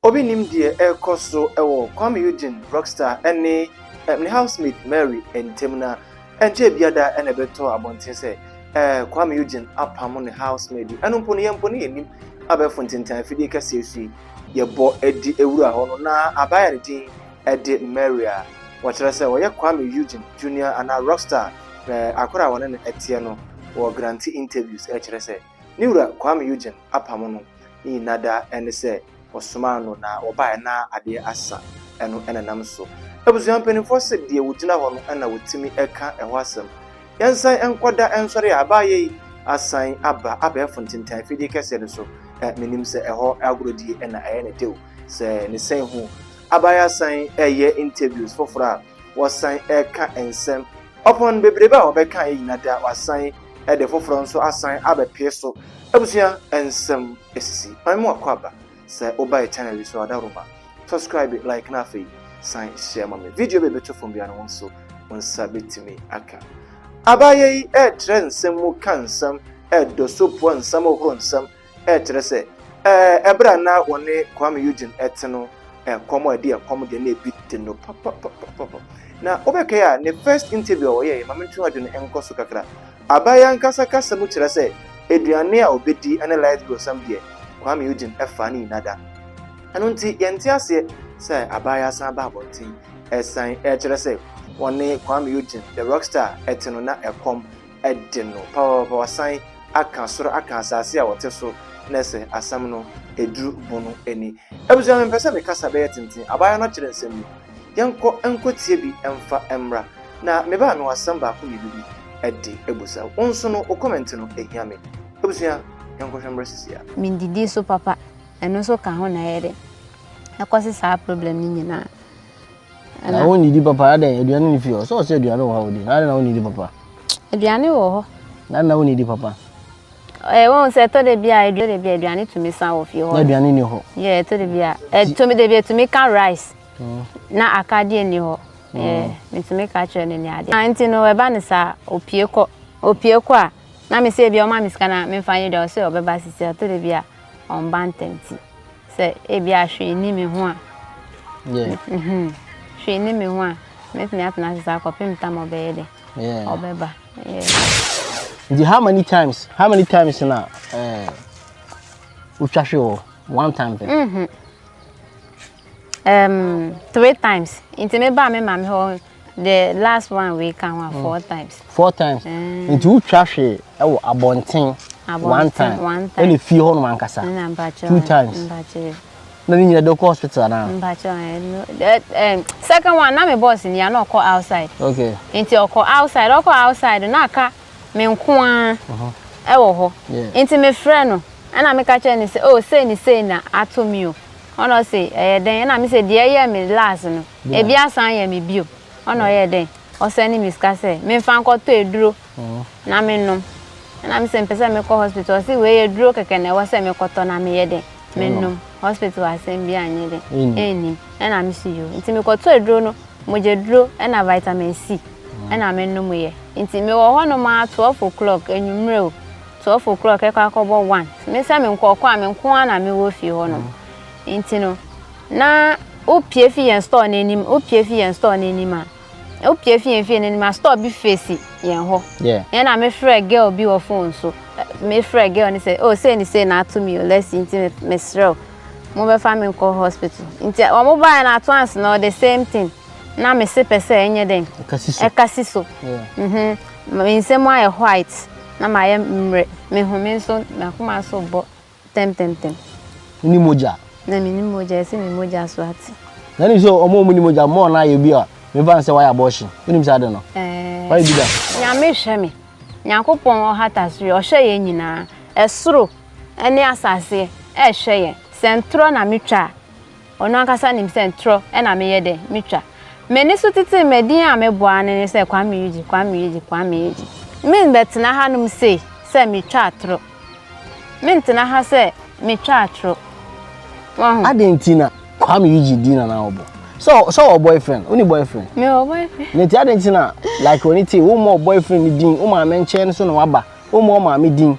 Obi nnim deɛ ɛrekɔ so wɔ Kwame Eugene Rockstar ne ne housemate Mary ntam na ɛnkyɛɛ biara da na ɛbɛtɔɔ abɔnten sɛ Kwame Eugene apamo ne housemaid yi. Ɛno mpo no, yɛn mpo no yɛnnim. Abɛɛfo ntentan afidie kɛseɛ so yi, yɛbɔ de wura hɔ no, na abaa a ne din de Mary a wɔkyerɛ sɛ ɔyɛ Kwame Eugene Junior anaa Rockstar akora a wɔne no teɛ no wɔ Grantee Interviews kyerɛ sɛ Ne wura Kwame Eugene apamo no ne nyina da ɛne sɛ wɔsomaa no na wɔbaeɛ na adeɛ asa ɛno na ɛnam so abusua mpaninfoɔ se deɛ wɔgyina hɔ no na wɔtumi ka ɛhɔ asɛm Yɛnsan nkɔ da nsɔre a baeɛ yi asan aba abɛɛfo ntentan afidie kɛseɛ no so Menim sɛ ɛhɔ agorɔdie na ɛyɛ ne deo sɛ ne sɛn hu aba yɛasan ɛyɛ interviews foforɔ a wɔsan ɛka nsɛm ɔpon bebrebe a wɔbɛkaeɛ nyina da wɔasan ɛde foforɔ nso asan abɛpue so. Abusua nsɛm sisi kwan mu akwaaba. Sɛ wobae channel yi so a, Daruma, subscribe, like na afei san share ma me. Video bi a ɛbɛtɔ fam biara no wo nso wo nsa bɛtumi aka. Abaayewa yi retrɛ nsɛm mu ka nsɛm, ɛdɔ so poa nsɛm, hohoro nsɛm. Ɛkyerɛ sɛ, ɛɛ, bere a na wɔne Kuame Eugene te no, ɛkɔm a ɛde ɛkɔm deɛ na ebi te no papapapapa. Na wobɛkae a, ne first interview a ɔyɛeɛ, ma mentwe w'adwene nkɔ so kakra. Abae ankasa kasa mu kyerɛ sɛ, aduane a ɔbɛdi ne light brosam deɛ, Kuame Eugene ɛfaa ne nyinaa da. Ɛno nti, yɛnte aseɛ sɛ Abae asan aba abɔnten. Ɛsan ɛkyerɛ sɛ, wɔne Kuame Eugene, the rock star, te no, na ɛkɔm de no papaapa wasan aka soro aka asase a wɔte so na sɛ asɛm no eduru bo no ani. Abusua mempɛ sɛ me kasa bɛyɛ tenten, abaayewa no akyerɛ nsɛm yi. Yɛnkɔ nkɔtie bi mfa mmra. Na me ba mewɔ asɛm baako mmienu bi de abusa wo nso no wo kɔmɛnte no hia me. Abusua yɛnkɔhwɛ mmra sisi a. Mendidi so papa, ɛno nso ka ho na ɛyɛ dɛ ɛkɔse saa problem no nyinaa. Na wo nidi papa adɛn aduane ne fie hɔ sɛ ɔsɛ aduane wɔ ha wodi na adɛn na wo nidi papa. Aduane wɔ hɔ. Na na wo nidi papa. Ɛɛ wɔn sɛ ɛtɔ de bi a ɛtɔ de bi a aduane tumi san wɔ fie hɔ. Na aduane ni hɔ. Yɛ ɛtɔ de bi a ɛtumi de bi ɛtumi ka rice mm. na akadeɛ ni hɔ. Mm. Yɛ metumi ka kyerɛ ne ne adeɛ. Na nti no ɛba ne saa opie kɔ opie kɔ a na me sɛ ebi ɔma me sika na memfa nyɛ dwa ɔsɛ ɔbɛba sisi ɛtɔ de bi a wɔn ba ntɛm ti sɛ ebia hwee nni me ho a mhm, hwee nni me ho a mɛtumi atena ase saa kɔpem tam ɔbɛyɛ dɛ ɔbɛba nti how many times how many times na eh, wotwa hwe wɔ one time pɛ mm -hmm. um, three times nti mebaa me maame hɔ the last one wei ka ho a mm. four times. four times mm. nti wotwa hwee ɛwɔ abɔnten one time ɛna fie hɔ nom ankasa two times na ne nyina de kɔ hospital anaa. mpakyɛ second one na me boss ni a na ɔkɔ outside. okay nti ɔkɔ outside ɔkɔ outside na aka. me nko ara uh-huh. wɔ hɔ nti mefrɛ no ɛna meka kyerɛ no sɛ o oh, sei ne sei na ato me o ɔna ɔse ɛyɛ dɛn ɛna me sɛ deɛ ɛyɛ me last no ebi asan yɛ me bio ɔna ɔyɛ dɛn ɔsɛ ne me sika sɛ memfa nkɔtɔ aduro uh-huh. na menom ɛna me sɛ mpɛ sɛ mekɔ hospital ɔse wei yɛ duro kɛkɛ na ɛwɔ sɛ mekɔtɔ na meyɛ dɛn menom hospital asɛm bi anyɛ dɛn ɛnnim ɛna me so yo nti mekɔtɔ aduro no Mogyaduro na vitamin C na me nom yɛ nti me wɔ hɔ nom ara twelve o'clock anwummerɛ o twelve o'clock ɛkɔ akɔbɔ one me sɛ me nkɔkɔ a me nko ara na me wɔ fie hɔ nom nti no na wopie fi yɛn store n'anim wopie fi yɛn store n'anim a wopie fi yɛn fie n'anim a store bi fesi yɛn hɔ yɛn na me frɛ girl bi wɔ phone so me frɛ girl ne sɛ oh say ne say na ato mi o lɛsi nti me srɛ o. mo bɛ fa me nkɔ hospital nti ɔmo baayɛ no at once no the same thing na me se pɛ sɛ ɛnyɛ dɛn ɛka si so mhm me nsɛm ayɛ white na ma yɛ mmerɛ me ho me nso makoma so bɔ tɛm tɛm tɛm ni mogya na me ni mogya ɛsɛ me mogya so ate na ni so ɔmo ɔmo ni mogya mo ɔna ayɛ bi a me fa nsɛ wayɛ abortion wonim sɛ ade no ɛɛ wayɛ bi da nyame hwɛ me nyankopɔn ɔhata so yɛ ɔhwɛ yɛ nyinaa ɛsoro Ɛne asase rehwɛ yɛn. Sɛ ntorɔ na metwa a, ɔno ankasa nim sɛ ntorɔ na meyɛ dɛ metwa. M'ani so titiri me din a mebɔ ara ne ne sɛ Kwame Yegye, Kwame Yegye, Kwame Yegye. Merebɛtena hanom sei sɛ metwa atorɔ. Mentena ha sɛ metwa atorɔ. Wahu? Adɛn nti na Kwame Yegye din na na ɔbɔ? Sɛ sɛ ɔwɔ boyfriend, wonni boyfriend? Mewɔ boyfriend. Nti adɛn nti na like w'ani te wo mmɔ boyfriend ne din, wo maame nkyɛn no so na waba, wommɔ wo maame din.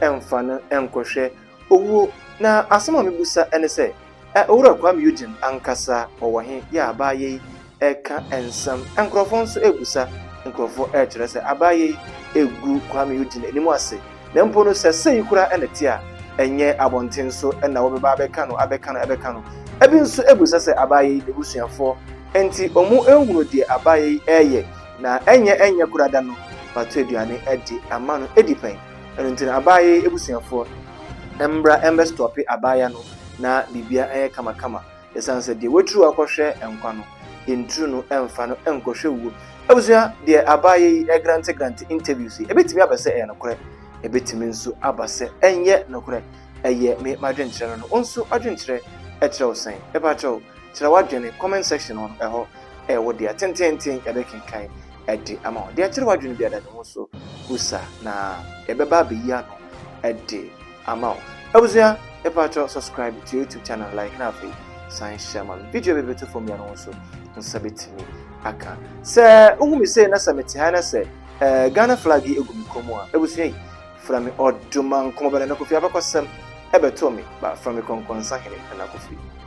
mfa no nkɔhwɛ owuo. Na asɛm a mebisa ne sɛ, ɛ Owura Kwame Eugene ankasa ɔwɔ he? Yɛ a abaayewa yi reka nsɛm, nkorɔfoɔ nso rebisa, nkorɔfoɔ rekyerɛ sɛ abaayewa yi regu Kwame Eugene anim ase, na mpo no sɛ sei koraa na ɛte a, nyɛ abɔnten so na wɔbɛba abɛka no, abɛka no, abɛka no. Ɛbi nso bisa sɛ abaayewa yi n'abusuafoɔ nti wɔanhunu deɛ abaayewa yi reyɛ, na ɛnyɛ ɛnyɛ koraa da no, wɔato aduane de ama no adi pɛn. Ɛno nti no abaayɛyi abusuafoɔ mmra ɛmbɛ stɔpe abaaya no na biribiara ɛnyɛ kama kama ɛsiane sɛ deɛ waturu akɔhwɛ nkwa no nturu no ɛmfa no nkɔhwɛ wuo. Abusua deɛ abaayɛyi ɛgrante grante interviews yi ɛbɛtumi aba sɛ ɛyɛ nokorɛ ɛbɛtumi nso aba sɛ ɛnyɛ nokorɛ ɛyɛ me m'adwenkyerɛ no no wo nso adwenkyerɛ ɛkyerɛ wo sɛn? Mepakyɛw Kyerɛ w'adwene, comment section hɔ no, ɛhɔ ɛyɛ wo dea, tenteenten yɛbɛkenkan de ama wo. Deɛ ɛkyere w'adwene biara da ne ho so busa na yɛbɛba abɛyi ano de ama wo. Abusua, yɛpaakyɛw subscribe to YouTube channel, like na afei san hyɛ ma me. Video bi bɛto fam biara no ho so wo nsa bɛtumi aka. Sɛ wohu me sei na sɛ mete ha na sɛ eh, Ghana flag yi egu me kɔn mu a, abusua yi, fra me ɔdomankɔmɔbɛne na kofi abakɔsɛm ɛbɛtoo me ba, fra me kɔnkɔnsa hene na kofi.